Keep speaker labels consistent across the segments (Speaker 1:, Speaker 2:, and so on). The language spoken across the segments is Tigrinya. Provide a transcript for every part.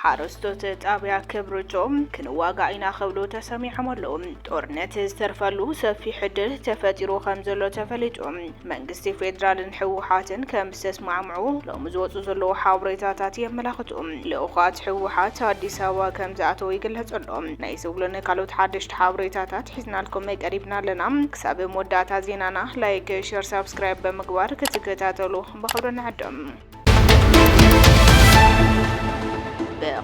Speaker 1: ሓረስቶት ጣብያ ክብርጮም ክንዋጋእ ኢና ክብሉ ተሰሚዖም ኣለዉ። ጦርነት ዝተርፈሉ ሰፊሕ ዕድል ተፈጢሩ ከም ዘሎ ተፈሊጡ መንግስቲ ፌደራልን ህወሓትን ከምዝተስማዕምዑ ሎሚ ዝወፅኡ ዘለዉ ሓበሬታታት የመላኽቱ። ልኡኻት ህወሓት ኣዲስ ኣበባ ከምዝኣተዉ ይግለፅ ኣሎ። ናይ ዝብሉን ካልኦት ሓደሽቲ ሓበሬታታት ሒዝናልኩም ቀሪብና ኣለና። ክሳብ መወዳእታ ዜናና ላይክ፣ ሼር፣ ሳብስክራይብ ብምግባር ክትከታተሉ ብኣኽብሮት ንዕድም።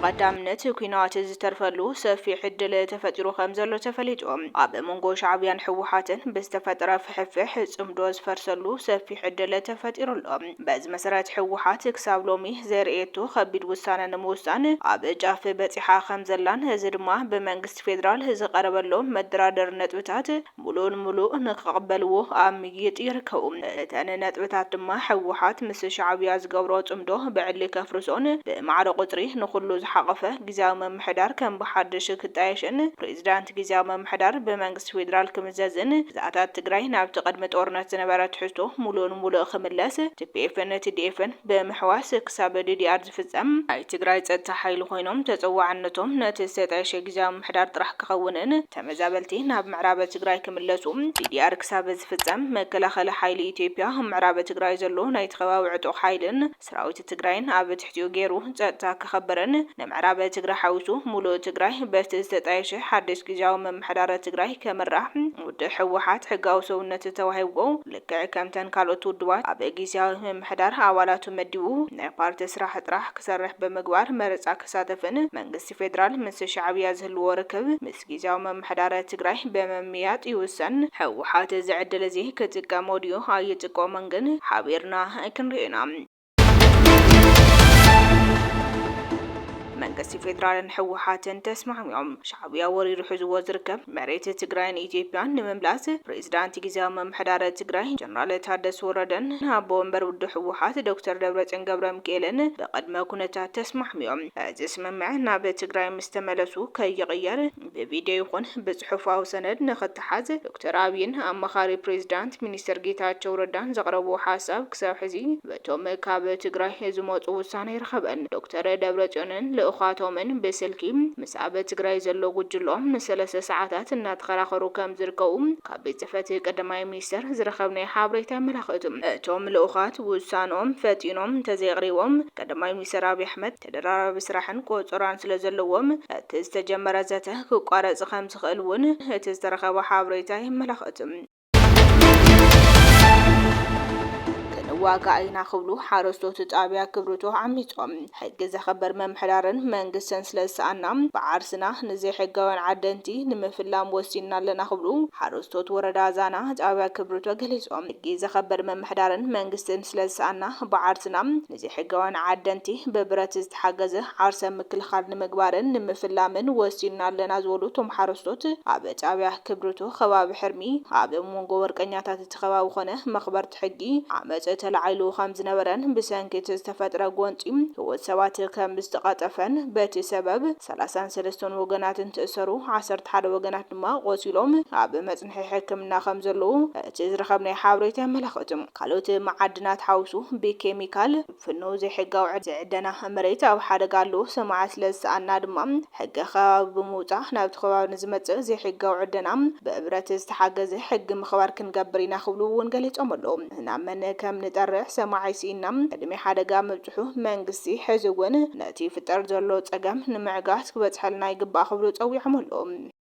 Speaker 1: ብቐዳምነት ኲናት ዝተርፈሉ ሰፊሕ ዕድል ተፈጢሩ ከምዘሎ ተፈሊጡ። ኣብ መንጎ ሻዕብያን ህወሓትን ብዝተፈጠረ ፍሕፍሕ ጽምዶ ዝፈርሰሉ ሰፊሕ ዕድል ተፈጢሩ ኣሎ። በዚ መሰረት ህወሓት ክሳብ ሎሚ ዘርእየቶ ከቢድ ውሳነ ንምውሳን ኣብ ጫፍ በጺሓ ከምዘላን እዚ ድማ ብመንግስቲ ፌደራል ዝቐረበሎም መደራደሪ ነጥብታት ሙሉእ ንሙሉእ ንክቕበልዎ ኣብ ምይይጥ ይርከቡ። እተን ነጥብታት ድማ ህወሓት ምስ ሻዕብያ ዝገብሮ ፅምዶ ብዕሊ ከፍርሶን ብማዕረ ቁፅሪ ንኹሉ ዝሓቖፈ ግዝያዊ ምምሕዳር ከም ብሓዱሽ ክጣየሽን ፕሬዚዳንት ግዝያዊ ምምሕዳር ብመንግስቲ ፌዴራል ክምዘዝን ግዝኣታት ትግራይ ናብቲ ቅድሚ ጦርነት ዝነበረ ትሕዝቶ ሙሉእ ንሙሉእ ክምለስ ቲፒኤፍን ቲዲኤፍን ብምሕዋስ ክሳብ ዲዲኣር ዝፍጸም፣ ናይ ትግራይ ጸጥታ ሓይሊ ኮይኖም ተጸዋዕነቶም ነቲ ዝተጣየሸ ግዝያዊ ምምሕዳር ጥራሕ ክኸውንን ተመዛበልቲ ናብ ምዕራበ ትግራይ ክምለሱ ዲዲኣር ክሳብ ዝፍጸም መከላኸሊ ሓይሊ ኢትዮጵያ ኣብ ምዕራበ ትግራይ ዘሎ ናይቲ ከባቢ ዕጡቕ ሓይልን ሰራዊት ትግራይን ኣብ ትሕቲኡ ገይሩ ጸጥታ ከኸብርን ንምዕራበ ትግራይ ሓዊሱ ሙሉእ ትግራይ በቲ ዝተጣየሸ ሓድሽ ግዝያዊ ምምሕዳር ትግራይ ከምራሕ ውድብ ህወሓት ሕጋዊ ሰውነት ተዋሂብዎ ልክዕ ከምተን ካልኦት ውድባት ኣብ ጊዝያዊ ምምሕዳር ኣባላቱ መዲቡ ናይ ፓርቲ ስራሕ ጥራሕ ክሰርሕ ብምግባር መረጻ ክሳተፍን መንግስቲ ፌደራል ምስ ሻዕብያ ዝህልዎ ርክብ ምስ ጊዝያዊ ምምሕዳር ትግራይ ብምምይያጥ ይውሰን። ህወሓት እዚ ዕድል እዚ ክጥቀሞ ድዩ ኣይጥቀሞን ግን ሓቢርና ክንሪኦ ኢና። መንግስቲ ፌዴራልን ህወሓትን ተስማዕሚዖም ሻዕብያ ወሪሩ ሕዝዎ ዝርከብ መሬት ትግራይን ኢትዮጵያን ንምምላስ ፕሬዚዳንት ግዜያዊ ምምሕዳር ትግራይ ጀነራል ታደሰ ወረደን ኣቦ ወንበር ውድብ ህወሓት ዶክተር ደብረፅዮን ገብረ ሚካኤልን ብቅድመ ኩነታት ተስማዕሚዖም። እዚ ስምምዕ ናብ ትግራይ ምስ ተመለሱ ከይቕየር ብቪድዮ ይኹን ብፅሑፋዊ ሰነድ ንኽተሓዝ ዶክተር ኣብይን ኣማኻሪ ፕሬዚዳንት ሚኒስትር ጌታቸው ረዳን ዘቕረብዎ ሓሳብ ክሳብ ሕዚ በቶም ካብ ትግራይ ዝመፁ ውሳነ ኣይረኸበን። ዶክተር ደብረፅዮንን ልኡኻቶምን ብስልኪ ምስ ኣብ ትግራይ ዘሎ ጉጅለኦም ንሰለስተ ሰዓታት እናተኸራኸሩ ከምዝርከቡ ካብ ቤት ፅሕፈት ቀዳማይ ሚኒስትር ዝረኸብናዮ ሓበሬታ የመላኽት። እቶም ልኡኻት ውሳነኦም ፈጢኖም እንተዘየቕሪቦም ቀዳማይ ሚኒስትር ኣብይ ኣሕመድ ተደራራቢ ስራሕን ቆጸራን ስለዘለዎም እቲ ዝተጀመረ ዘተ ክቋረጽ ከምዝኽእል እውን እቲ ዝተረኸበ ሓበሬታ የመላኽት። ክንዋጋእ ኢና ክብሉ ሓረስቶት ጣብያ ክብርቶ ዓሚፆም ሕጊ ዘኽብር ምምሕዳርን መንግስትን ስለዝሰኣና ብዓርስና ንዘይሕጋውያን ዓደንቲ ንምፍላም ወሲንና ኣለና ክብሉ ሓረስቶት ወረዳ ዛና ጣብያ ክብርቶ ገሊፆም። ሕጊ ዘኽብር ምምሕዳርን መንግስትን ስለዝሰኣና ብዓርስና ዘይሕጋውያን ዓደንቲ ብብረት ዝተሓገዘ ዓርሰ ምክልኻል ንምግባርን ንምፍላምን ወሲንና ኣለና ዝበሉ እቶም ሓረስቶት፣ ኣብ ጣብያ ክብሪቶ ከባቢ ሕርሚ ኣብ ሞንጎ ወርቀኛታት እቲ ከባቢ ኾነ መኽበርቲ ሕጊ ዓመፅ ተላዒሉ ከምዝነበረን ብሰንኪ እቲ ዝተፈጥረ ጎንፂ ህይወት ሰባት ከምዝተቐጠፈን በቲ ሰበብ ሰላሳን ሰለስተን ወገናትን ትእሰሩ ዓሰርተ ሓደ ወገናት ድማ ቆሲሎም ኣብ መፍትሒ ሕክምና ከም ዘለዉ እቲ ዝረኸብናዮ ሓበሬታ የመላኽት። ካልኦት መዓድናት ሓዊሱ ብኬሚካል ፍኑው ዘይሕጋዊ ዕደና መሬት ኣብ ሓደጋ ኣለዉ። ሰማዒ ስለ ዝሰኣንና ድማ ሕጊ ከባቢ ብምውጻእ ናብቲ ከባቢ ንዝመጽእ ዘይሕጋዊ ዕደና ብብረት ዝተሓገዘ ሕጊ ምኽባር ክንገብር ኢና ክብሉ እውን ገሊጾም ኣለዉ። ናብ መን ከም ንጠርዕ ሰማዒ ስኢንና ቅድሚ ሓደጋ ምብጽሑ መንግስቲ ሕዚ እውን ነቲ ይፍጠር ዘሎ ጸገም ንምዕጋት ክበጽሐልና ይግባእ ክብሉ ጸዊዖም ኣለዉ።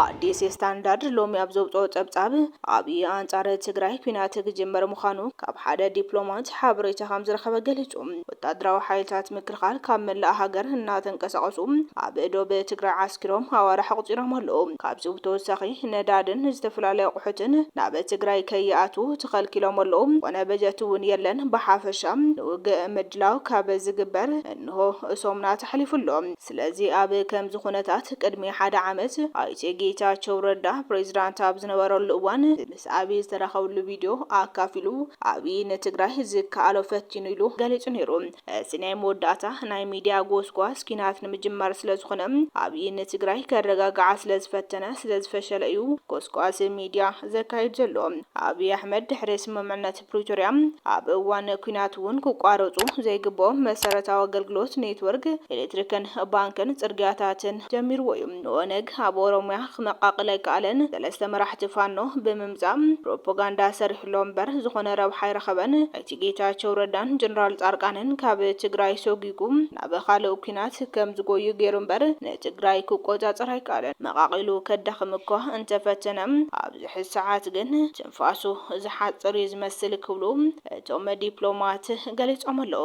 Speaker 1: ኣዲስ ስታንዳርድ ሎሚ ኣብ ዘውጽኦ ጸብጻብ፣ ኣብይ ኣንጻር ትግራይ ኲናት ክጅምር ምዃኑ ካብ ሓደ ዲፕሎማት ሓበሬታ ከምዝረኸበ ገሊጹ። ወታደራዊ ሓይልታት ምክልኻል ካብ መላእ ሃገር እናተንቀሳቐሱ ኣብ ዶብ ትግራይ ዓስኪሮም ኣዋርሕ ኣቑጺሮም ኣለዉ። ካብዚ ብተወሳኺ ነዳድን ዝተፈላለዩ ኣቑሑትን ናብ ትግራይ ከይኣትዉ ተኸልኪሎም ኣለዉ። ዝኾነ በጀት እውን የለን። ብሓፈሻ ንውግእ ምድላው ካብ ዝግበር እንሆ ሰሙናት ኣሕሊፉ ኣሎ። ስለዚ ኣብ ከምዚ ኩነታት ቅድሚ ሓደ ዓመት ኣይተ ጌታቸው ረዳ ፕሬዝዳንት ኣብ ዝነበረሉ እዋን ምስ ኣብይ ዝተራኸብሉ ቪድዮ ኣካፊሉ ኣብይ ንትግራይ ዝከኣሎ ፈቲኑ ኢሉ ገሊፁ ነይሩ። እቲ ናይ መወዳእታ ናይ ሚድያ ጎስጓስ ኲናት ንምጅማር ስለዝኾነ ኣብይ ንትግራይ ከረጋግዓ ስለዝፈተነ ስለዝፈሸለ እዩ ጎስጓስ ሚድያ ዘካይድ ዘሎ። ኣብይ ኣሕመድ ድሕሪ ስምምዕነት ፕሪቶርያ ኣብ እዋን ኲናት እውን ክቋረፁ ዘይግበኦም መሰረታዊ ኣገልግሎት ኔትወርክ ኤሌክትሪክን ባንክን ፅርግያታትን ጀሚርዎ እዩ። ንኦነግ ኣብ ኦሮሚያ ክመቃቅል ኣይከኣለን። ሰለስተ መራሕቲ ፋኖ ብምምፃእ ፕሮፖጋንዳ ሰሪሑሎም እምበር ዝኾነ ረብሓ ኣይረኸበን። ኣይተ ጌታቸው ረዳን ጀነራል ፃርቃንን ካብ ትግራይ ሶጊጉ ናብ ኻልእ ኲናት ከም ዝጎዩ ገይሩ እምበር ንትግራይ ክቆፃፀር ኣይከኣለን። መቃቂሉ ከዳኽም እኳ እንተፈተነ ኣብዚ ሕዚ ሰዓት ግን ንፋሱ ዝሓጽር እዩ ዝመስል ክብሉ እቶም ዲፕሎማት ገሊጾም ኣለዉ።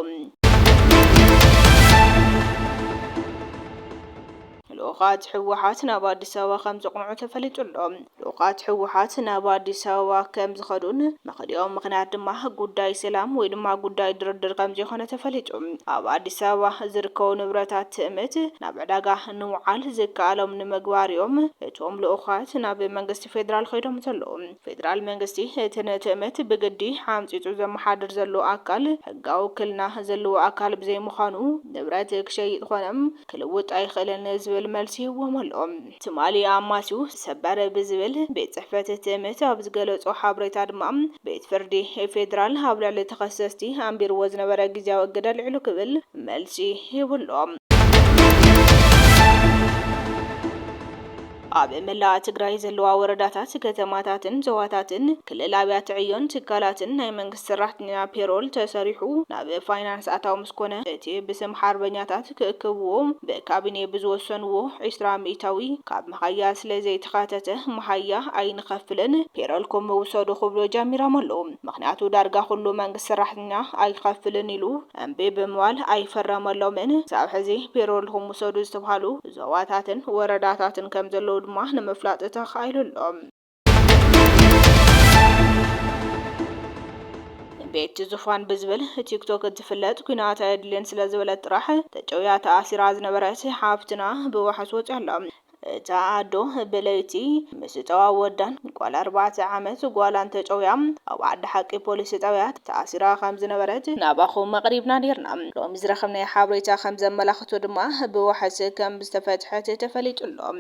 Speaker 1: ልኡኻት ህወሓት ናብ ኣዲስ ኣበባ ከም ዘቕንዑ ተፈሊጡ ኣሎ። ልኡኻት ህወሓት ናብ ኣዲስ ኣበባ ከም ዝኸዱን መኸዲኦም ምኽንያት ድማ ጉዳይ ሰላም ወይ ድማ ጉዳይ ድርድር ከም ዘይኮነ ተፈሊጡ። ኣብ ኣዲስ ኣበባ ዝርከቡ ንብረታት ትእምት ናብ ዕዳጋ ንውዓል ዝከኣሎም ንምግባር እዮም እቶም ልኡኻት ናብ መንግስቲ ፌዴራል ኸይዶም ዘለዉ። ፌዴራል መንግስቲ እቲ ንትእምት ብግዲ ዓምፂፁ ዘመሓድር ዘሎ ኣካል ሕጋዊ ውክልና ዘለዎ ኣካል ብዘይምዃኑ ንብረት ክሸይጥ ኾነ ክልውጥ ኣይኽእልን ዝብል መልሲ ሂቡዎም ኣሎ። ትማሊ ኣማስዩ ሰበር ብዝብል ቤት ፅሕፈት ትእምት ኣብ ዝገለፆ ሓበሬታ ድማ ቤት ፍርዲ ፌዴራል ኣብ ልዕሊ ተኸሰስቲ ኣንቢሩዎ ዝነበረ ግዝያዊ እግድ ኣልዒሉ ክብል መልሲ ሂቡ ኣሎ። ኣብ መላእ ትግራይ ዘለዋ ወረዳታት፣ ከተማታትን ዞባታትን፣ ክልል ኣብያተ ዕዮን ትካላትን ናይ መንግስቲ ሰራሕተኛ ፔሮል ተሰሪሑ ናብ ፋይናንስ ኣታዊ ምስ ኮነ እቲ ብስም ሓርበኛታት ክእክብዎ ብካቢኔ ብዝወሰንዎ ዕስራ ሚኢታዊ ካብ መሃያ ስለ ዘይተኻተተ መሃያ ኣይንኸፍልን ፔሮልኩም ውሰዱ ክብሉ ጀሚሮም ኣለው። ምኽንያቱ ዳርጋ ኩሉ መንግስቲ ሰራሕተኛ ኣይኸፍልን ኢሉ እምቢ ብምባል ኣይፈረመሎምን። ክሳብ ሕዚ ፔሮልኹም ውሰዱ ዝተብሃሉ ዞባታትን ወረዳታትን ከም ዘለዉ ድማ ንምፍላጥ ተኻኢሉ ኣሎ። ቤቲ ዙፋን ብዝብል ቲክቶክ እትፍለጥ ኩናት ኣየድልን ስለ ዝበለት ጥራሕ ተጨውያ ተኣሲራ ዝነበረት ሓፍትና ብዋሕስ ወፂኣ ኣላ። እታ ኣዶ ብለይቲ ምስ ጨዋ ወዳን ጓል ኣርባዕተ ዓመት ጓላን ተጨውያ ኣብ ዓዲ ሓቂ ፖሊስ ጣብያ ተኣሲራ ከም ዝነበረት ናባኹም ኣቕሪብና ኔርና። ሎሚ ዝረኸብናዮ ሓበሬታ ከም ዘመላኽቶ ድማ ብዋሕስ ከም ዝተፈትሐት ተፈሊጡ ኣሎ።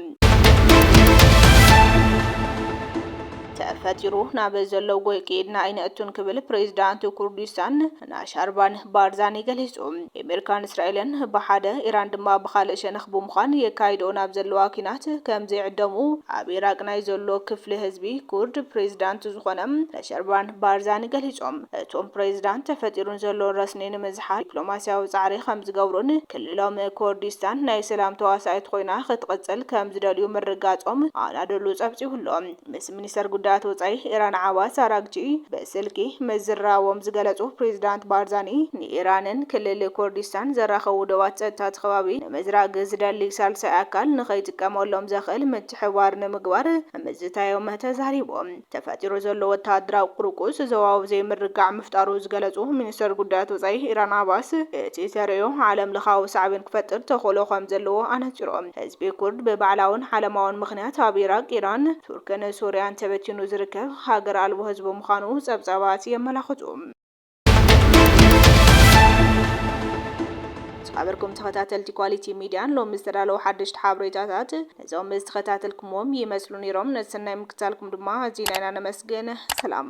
Speaker 1: ተፈጢሩ ናብ ዘሎ ጎይ ከይድና ኣይነእቱን ክብል ፕሬዝዳንት ኩርዲስታን ናሻርባን ባርዛኒ ገሊጹ። ኤሜርካን እስራኤልን ብሓደ ኢራን ድማ ብኻልእ ሸነኽ ብምዃን የካይድኦ ናብ ዘለዋ ኲናት ከም ዘይዕደሙ ኣብ ኢራቅ ናይ ዘሎ ክፍሊ ህዝቢ ኩርድ ፕሬዚዳንት ዝኾነ ነሸርባን ባርዛኒ ገሊጾም። እቶም ፕሬዚዳንት ተፈጢሩን ዘሎን ረስኒ ንምዝሓል ዲፕሎማሲያዊ ጻዕሪ ከም ዝገብሩን ክልሎም ኮርዲስታን ናይ ሰላም ተዋሳኢት ኾይና ክትቕጽል ከም ዝደልዩ ምርጋጾም ኣናዶሉ ጸብጺቡ'ሎ። ምስ ሚኒስተር ጉዳያት ወጻኢ ኢራን ዓባስ ኣራግቺ ብስልኪ ምዝርራቦም ዝገለጹ ፕሬዚዳንት ባርዛኒ፣ ንኢራንን ክልል ኩርዲስታን ዘራኽቡ ዶባት ጸጥታ እቲ ከባቢ ንምዝራግ ዝደሊ ሳልሳይ ኣካል ንኸይጥቀመሎም ዘኽእል ምትሕብባር ንምግባር ምዝታዮም ተዛሪቦም። ተፈጢሩ ዘሎ ወተሃደራዊ ቁርቁስ ዞባዊ ዘይምርግጋዕ ምፍጣሩ ዝገለጹ ሚኒስተር ጉዳያት ወጻኢ ኢራን ዓባስ፣ እቲ ተርእዮ ዓለምለኻዊ ሳዕቤን ክፈጥር ተኽእሎ ከምዘለዎ ኣነጺሮም። ህዝቢ ኩርድ ብባዕላውን ዓለማውን ምኽንያት ኣብ ኢራቅ፣ ኢራን፣ ቱርክን ሱርያን ተበቲኑ ዝርከብ ሃገር ኣልቦ ህዝቢ ምዃኑ ጸብጻባት የመላኽቱ። ዝኸበርኩም ተኸታተልቲ ኳሊቲ ሚድያን ሎሚ ዝተዳለዉ ሓደሽቲ ሓበሬታታት እዞም ዝተኸታተልኩምዎም ይመስሉ ነይሮም። ነቲ ሰናይ ምክትታልኩም ድማ ኣዚና ኢና ነመስግን። ሰላም።